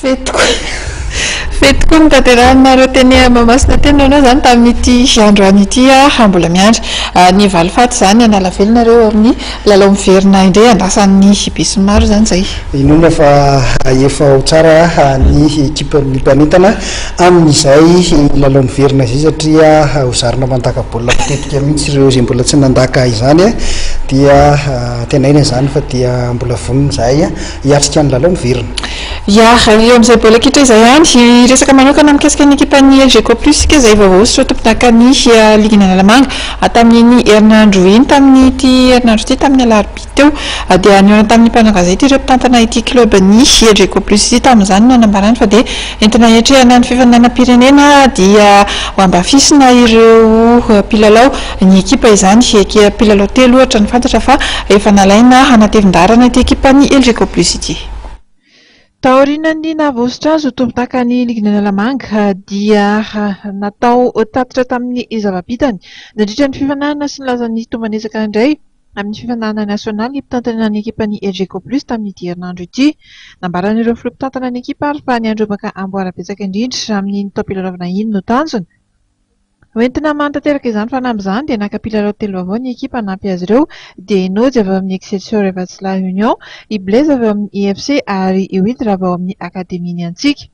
Fety tokoa Fety tokoa ny tanterahina ireo teny Mahamasina teny noana izany tamin'ity androany ity aho mbola miandry ah, ny valifaty izany hanala velona ireo amin'ny lalao miverina indray andrasan'ny besinimaro izany izay. Inoana fa hahefa ho tsara ny ekipan'ny mpanentana amin'izay lalao miverina izay satria ho zarina mandaka baolina mitetika mihitsy ireo izay mbola tsy nandaka izany dia tenaina izany fa dia mbola vonona izahay Hiatrika ny lalao ny Virina. Ya, eo amin'izay baolina kitra izay ihany. Hiresaka manokana mikasika ny ekipan'ny Elgeco Plus isika izay vaovao ho soa tompondakan'ny ligin'Analamanga. Tamin'iny herinandro iny, tamin'ity herinandro ity, tamin'ny alarobia teo, dia nihaona tamin'ny mpanao gazety ireo mpitantana ity klobn'ny Elgeco Plus ity. Tamin'izany no hanambarany fa dia entina hiatrehana ny fifaninanam-pirenena dia ho ambafisina ireo mpilalao. ny ekipa izany. Ekea mpilalao telo ohatra ny fantatra fa efa nalaina hanatevin-daharana ity ekipan'ny Elgeco Plus ity. Taorian'ny nahavoasotra azy ho tompon-takan'ny ligin'i Analamanga dia natao tatitra tamin'ny zava-bitany nandritra ny fifaninanana sy nilaza ny tomban'ezaka indray amin'ny fifaninanana nasionaly mpitantana ny ekipan'ny Elgeco Plus tamin'ity herinandro ity. Nambaran'ireo filoha mpitantana ny ekipa ary fa ny handrobaka amboara betsaka indrindra amin'iny taom-pilalaovana iny no tanjona. Hoentina mano tanteraka izany fanamby izany dia naka mpilalao telo vaovao ny ekipa hanampy azy ireo dia i Nojy avy ao amin'ny Excelsior Evatsilahy Union, i Blaise avy ao amin'ny IFC ary i Willy Rava ao amin'ny Academie Ny Antsika.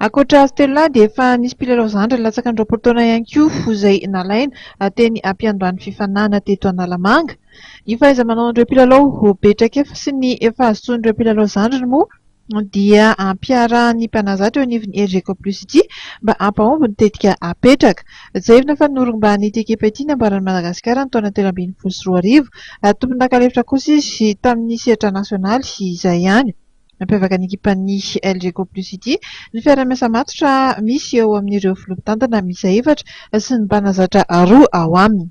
Ankoatra azy telo lahy dia efa nisy mpilalao zandriny latsaka ny roapolo taona ihany koa izay nalaina teny am-piandohan'ny fifaninanana teto Analamanga. Ny fahaiza-manaon'ireo mpilalao ho be traikefa sy ny efa azo tsoin'ireo mpilalao zandriny moa dia ampiarahan'ny mpanazatra eo anivon'ny Elgeco Plus ity mba hampahomby ny tetika apetraka. Tsiahivina fa norombahan'ity ekipa ity ny ambaran'i Madagasikara ny taona telo ambin'ny folo sy roa arivo ary tompon'anka lefitra kosa izy tamin'ny sehatra nasionaly izay ihany. Nampiavaka ny ekipan'ny Elgeco Plus ity ny fiaraha-miasa matotra misy eo amin'ireo filoha mpitantana miisa efatra sy ny mpanazatra roa ao aminy.